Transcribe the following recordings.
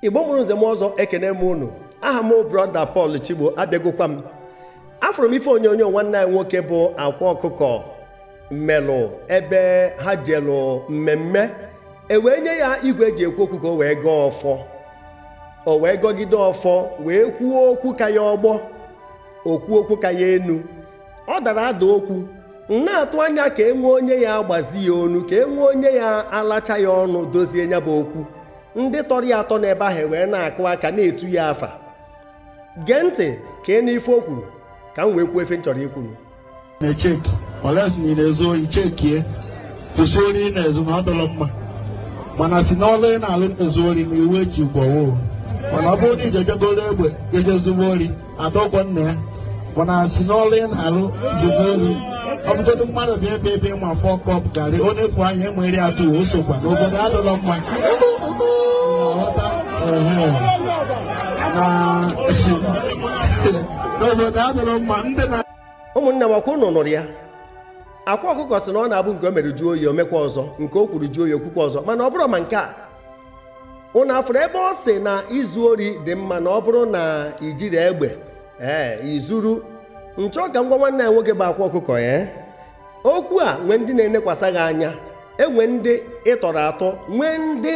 igbo mụrụ nze mụọ ọzọ ekenee m unu aha m brọda Pọl Chigbo abịagokwa m afụrụ m ife onyonyo nwanne anyị nwoke bụ akwa ọkụkọ melụ ebe ha jelụ mmemme e wee nye ya igwe e ji ekwu okwu ka o wee gọọ ọfọ o wee gọgide ọfọ wee kwuo okwu ka ya ọgbọ o kwuo okwu ka ya enu ọ dara ada okwu m na-atụ anya ka e nwee onye ya-agbazi ya ọnụ ka e nwee onye ya-alacha ya ọnụ dozie nya bụ okwu ndị tọrọ ya atọ n'ebe ahụ wee na-akụ aka na-etu ya afa gee ntị ka ị nụ ife o kwuru ka m wee kwuo ife m chọrọ ikwu na-echeki unless na ị na-ezu ohi chekie kwụsị ori ị na-ezu na ọ dịrọ mma mana si n'ọlụ ị na-alụ na-ezu ori na iwe ji gwawo mana ọ bụrụ na i jigoro egbe je ezuwa ori adọgwọ nna ya mana si n'ọlụ ị na-alụ zugo ori ọ bụgodo mmadụ bịa ebe ebe ị ma four cup garri o nefu anya e were atọ o sokwa n'obodo adịrọ mma na obodo adịrọ mma ndị na ụmụnne m ọ kwa ụnụ nụrụ ya akwa ọkụkọ sị na ọ na-abụ nke o mere jụọ oyi o mekwa ọzọ nke o kwuru jụọ oyi o kwukwa ọzọ mana ọ bụrụ ma nke a ụnụ afụrụ ebe ọ sị na izu ori dị mma na ọ bụrụ na i jiri egbe ee i zuru m chọ ka m gwa nwanne a nwoke bụ akwa ọkụkọ okwu a e nwee ndị na-enekwasa gị anya e nwe ndị ị tọrọ atọ nwee ndị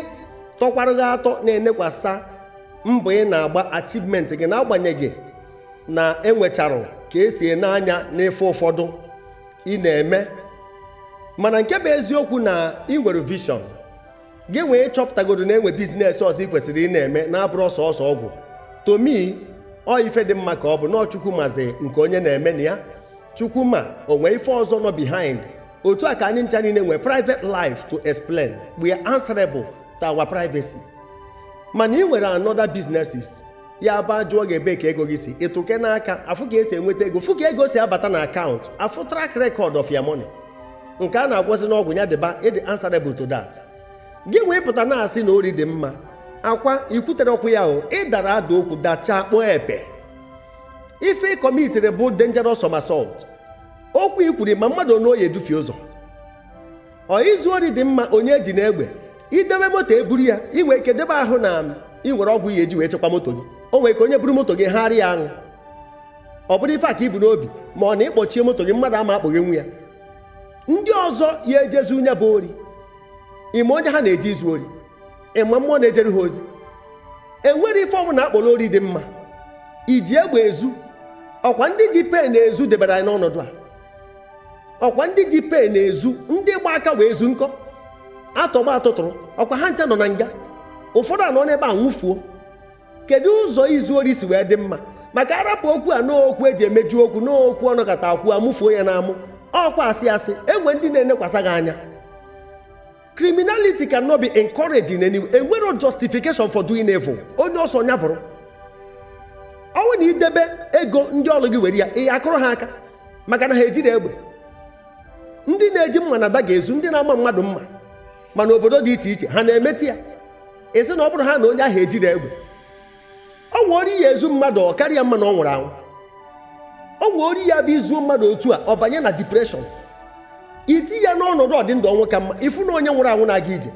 tọkwara gị atọ na-enekwasa mbọ ị na-agba achievement gị n'agbanyeghị na e nwechara ka e si ene anya n'ife ụfọdụ ị na-eme mana nke bụ eziokwu na ị nwere vision gị wee chọpụtagodo na e nwe business ọzọ ị kwesịrị ị na-eme na-abụrọ sọọsọ ọgwụ to me ọ ife dị mma ka ọ bụ na chukwu mazị nke onye na-eme na ya chukwu ma o nwe ife ọzọ nọ behind otu a ka anyị ncha niile nwee private life to explain we are answerable to our privacy mana ị nwere another businesses ya bụ a jụọ gị ebe ka ego gị si ịtụke n'aka a fụ ka e si enweta ego fụ ka ego si abata na account a fụ track record of your money nke a na-agwọzi n'ọgwụ ya dịba ị dị answerable to that gị wee pụta na-asị na ori dị mma akwa i kwuterọ okwu ahụ ị dara ada okwu dachaa kpọọ epe ife ị commitiri bụ dangerous somersault okwu i kwuru ị ma mmadụ one ọ ya-edufie ụzọ ọ izu ori dị mma onye ejina egbe i debe moto e buru ya ị nwere ike debe ahụ na ị nwere ọgwụ ị ya-eji wee chekwa moto gị o nwere ike onye buru moto gị harị ya aṅụ ọ bụrụ ife a ka i bu n'obi ma ọ na ị kpọchie moto gị mmadụ ama akpọghenwu ya ndị ọzọ ya-eje zuo nya bụ ori ị ma onye ha na-eji ezu ori ị ma mmụọ na-ejere ha ozi enwerọ ife ọbụna a kpọrọ ori dị mma i ji egbe ezu ọ kwa ndị ji pen ezu debere anyị n'ọnọdụ a ọkwa ndị ji pen na-ezu ndị gba aka wee zu nke atọgbọ atụtụrụ ọkwa ha ncha nọ na nga ụfọdụ anọ n'ebe a nwụfuo kedu ụzọ izu ori si wee dị mma maka arapụ okwu a n'okwu eji emeju okwu n'okwu ọ nọkata akwụ amụfuo ya n'amụ ọkwa asị asị enwe ndị na-enekwasa gị anya criminality cannot be encouraged in any way enwero justification for doing evil onye ọsọ nya bụrụ ọ wụ na idebe ego ndị ọlụ gị were ya ị akụrụ ha aka maka na ha ejiro egbe ndị na-eji mma na dagger ezu ndị na-ama mmadụ mma ma na obodo dị iche iche ha na-emeti ya ị sị na ọ bụrụ ha na onye ahụ ejiro egbe o nwe ori ị ya-ezu mmadụ ọ kara ya mma na ọ nwụrụ anwụ o nwe ori ya bụ izuo mmadụ otu a ọ banye na depression iti ya n'ọnọdụ ọdịndụ ọnwụ ka mma ịfụ na onye nwụrụ anwụ na-aga ije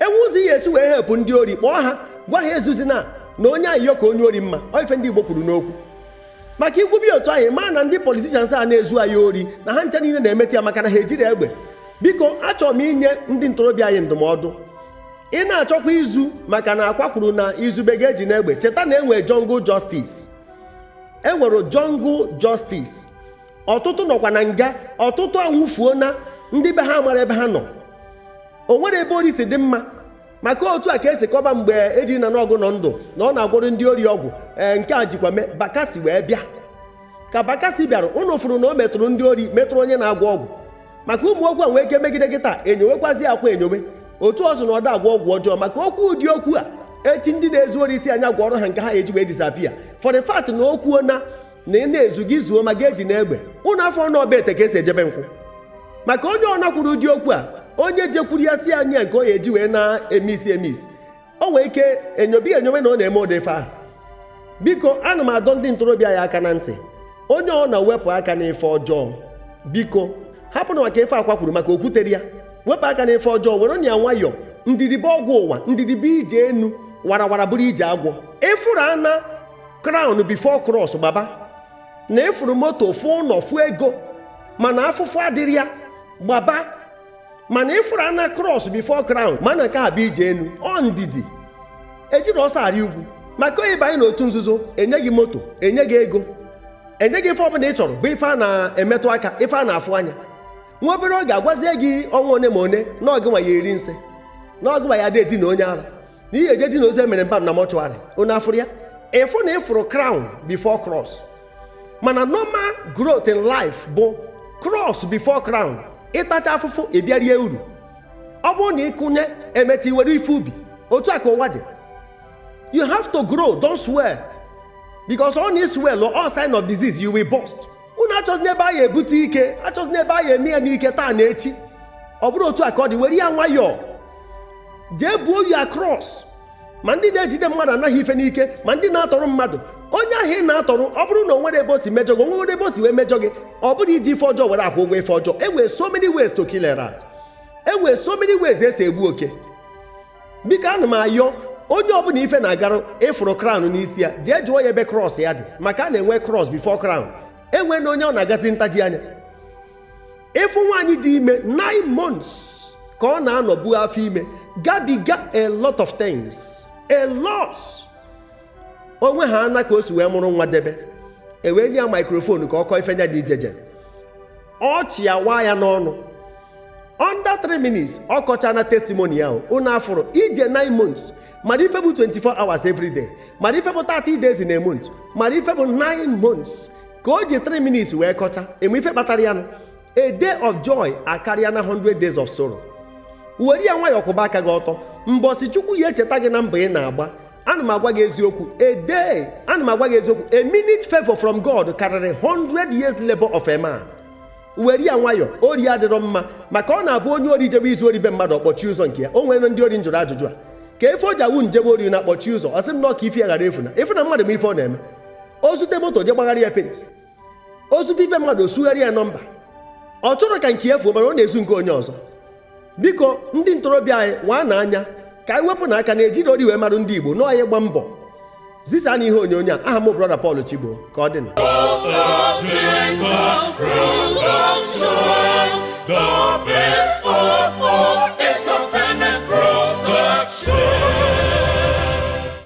enwe ụzọ ị ya-esi wee hepụ ndị ori kpọọ ha gwa ha ezuzina na onye ayịyọ ka onye ori mma ọ ife ndị Igbo kwuru n'okwu maka ikwube otu anyị maa na ndị politicians a na-ezu anyị ori na ha ncha niile na-emeti ya maka na ha ejiro egbe biko achọrọ m inye ndị ntorobịa anyị ndụmọdụ ị na-achọkwa izu maka na Akwa kwuru na izube gị ejina egbe cheta na enwere jungle justice enwere jungle justice ọtụtụ nọkwa na nga ọtụtụ anwụfuona ndị be ha amaro ebe ha nọ o nwere ebe ori si dị mma maka otu a ka esi kọba mgbe Eddy na Nawgu nọ ndụ na ọ na-agwọrọ ndị ori ọgwụ ee nke a jikwa mee Bakassi wee bịa ka Bakassi bịara ụnụ fụrụ na o metụrụ ndị ori metụrụ onye na-agwọ ọgwụ maka ụmụ okwu a nwee ike megide gị taa enyowekwazi Akwa enyowe otu ọ sị na ọ da agwọ ọgwụ ọjọọ maka okwu ụdị okwu a echi ndị na-ezu ori asị nya gwọrọ ha nke ha eji wee disappear for the fact na o kwuona na ị na-ezu gị zuo ma gị ejina egbe ụnụ afụ na ọ be ete ka esi eje be nkwụ maka onye ọ na kwuru ụdị okwu a onye jekwuru ya sị ya nye ya nke ọ ya-eji wee na-emisi emisi o nwee ike enyobe ya enyowe na ọ na-eme ụdị ife ahụ biko ana m adọ ndị ntorobịa ya aka na ntị onye ọ na wepụ aka n'ife ọjọọ biko hapụnụ maka ife Akwa kwuru maka o kwutero ya wepụ aka n'ife ọjọọ werenụ ya nwayọọ ndidi bụ ọgwụ ụwa ndidi bụ ije enu warawara bụrụ ije agwọ ịfụrụ ana crown before cross gbaba na ịfụrụ moto fụ ụnọ fụ ego mana afụfụ adịro ya gbaba mana ịfụrụ ana cross before crown ma na nke a bụ ije enu ọ ndidi ejiro ọsọ arị ugwu maka onye banye n'otu nzuzo enye gị moto enye gị ego enye gị ife ọbụna ị chọrọ bụ ife a na-emetụ aka ife a na-afụ anya nwa obere oge agwazie gị ọnwa one ma one na ọ gịnwa ya-eri nsị na ọ gịnwa ya-edina onye ara na ị ya-eje dina ozu emere embalm na mortuary unu afụrụ ya ịfụ na ịfụrụ crown before cross mana normal growth in life bụ cross before crown ị tachaa afụfụ ị bịa rie uru ọ bụrụ na ị kụnye emeta i were ife ubi otu a ka ụwa dị you have to grow don't swell because ọ na ị swell all sign of disease you will burst unu achọzina ebe a ya-ebute ike achọzina ebe a ya-eme ya n'ike taa na echi ọ bụrọ otu a ka ọ dị were ya nwayọọ jee buo ya cross ma ndị na-ejide mmadụ ana ya ife n'ike ma ndị na-atọrọ mmadụ onye ahụ ị na-atọrọ ọ bụrụ na o nwere ebe o si mejọ gị o nwere ebe o si wee mejọ gị ọ bụrọ iji ife ọjọọ were akwụ ụgwọ ife ọjọọ e nwere so many ways to kill a rat e nwere so many ways e si egbu oke biko ana m ayọ onye ọbụla ife na-agarụ ị fụrụ crown n'isi ya jee jụọ ya ebe cross ya dị maka a na-enwe cross before crown enwena onye ọ na-agazi ntaji anya ị fụ nwaanyị dị ime 9 months ka ọ na-anọ bu afọ ime gabiga a lot of things a lot onwe ha ana ka o si wee mụrụ nwa debe e wee nye ya microphone ka ọ kọọ ife nya dị ijeje ọchị awaa ya n'ọnụ under 3 minutes ọ kọchaana testimony ya unu afụrụ ije 9 months mara ife bụ 24 hours every day mara ife bụ 30 days in a month mara ife bụ 9 months ka o ji 3 minutes wee kọcha ị ma ife kpatara ya nụ a day of joy akarịana 100 days of sorrow were ya nwayọọ kwụba aka gị ọtọ mbọsị chukwu ya-echeta gị na mbọ ị na-agba a day ana m agwa gị eziokwu a minute favor from god karịrị 100 years labor of a man were ya nwayọọ ori adịrọ mma maka ọ na-abụ onye ori jebe izu ori be mmadụ ọ kpọchie ụzọ nke ya o nwere ndị ori m jụrụ ajụjụ a kee ife o ji awụ unu jebe ori na-akpọchi ụzọ ọ sị m na ọ ka ife ya ghara efu na ị fụ na mmadụ ma ife ọ na-eme o zute moto jee gbagharị ya penti o zute ife mmadụ o sugharị ya nọmba ọ chọrọ ka nke ya fuo mana ọ na-ezu nke onye ọzọ biko ndị ntorobịa anyị waa na anya ka anyị wepụ na aka na e jiri ori wee marụ ndị Igbo nọọ anyị gba mbọ zisa na ihe onyonyo a aha m brother Paul Chigbo ka ọ dị na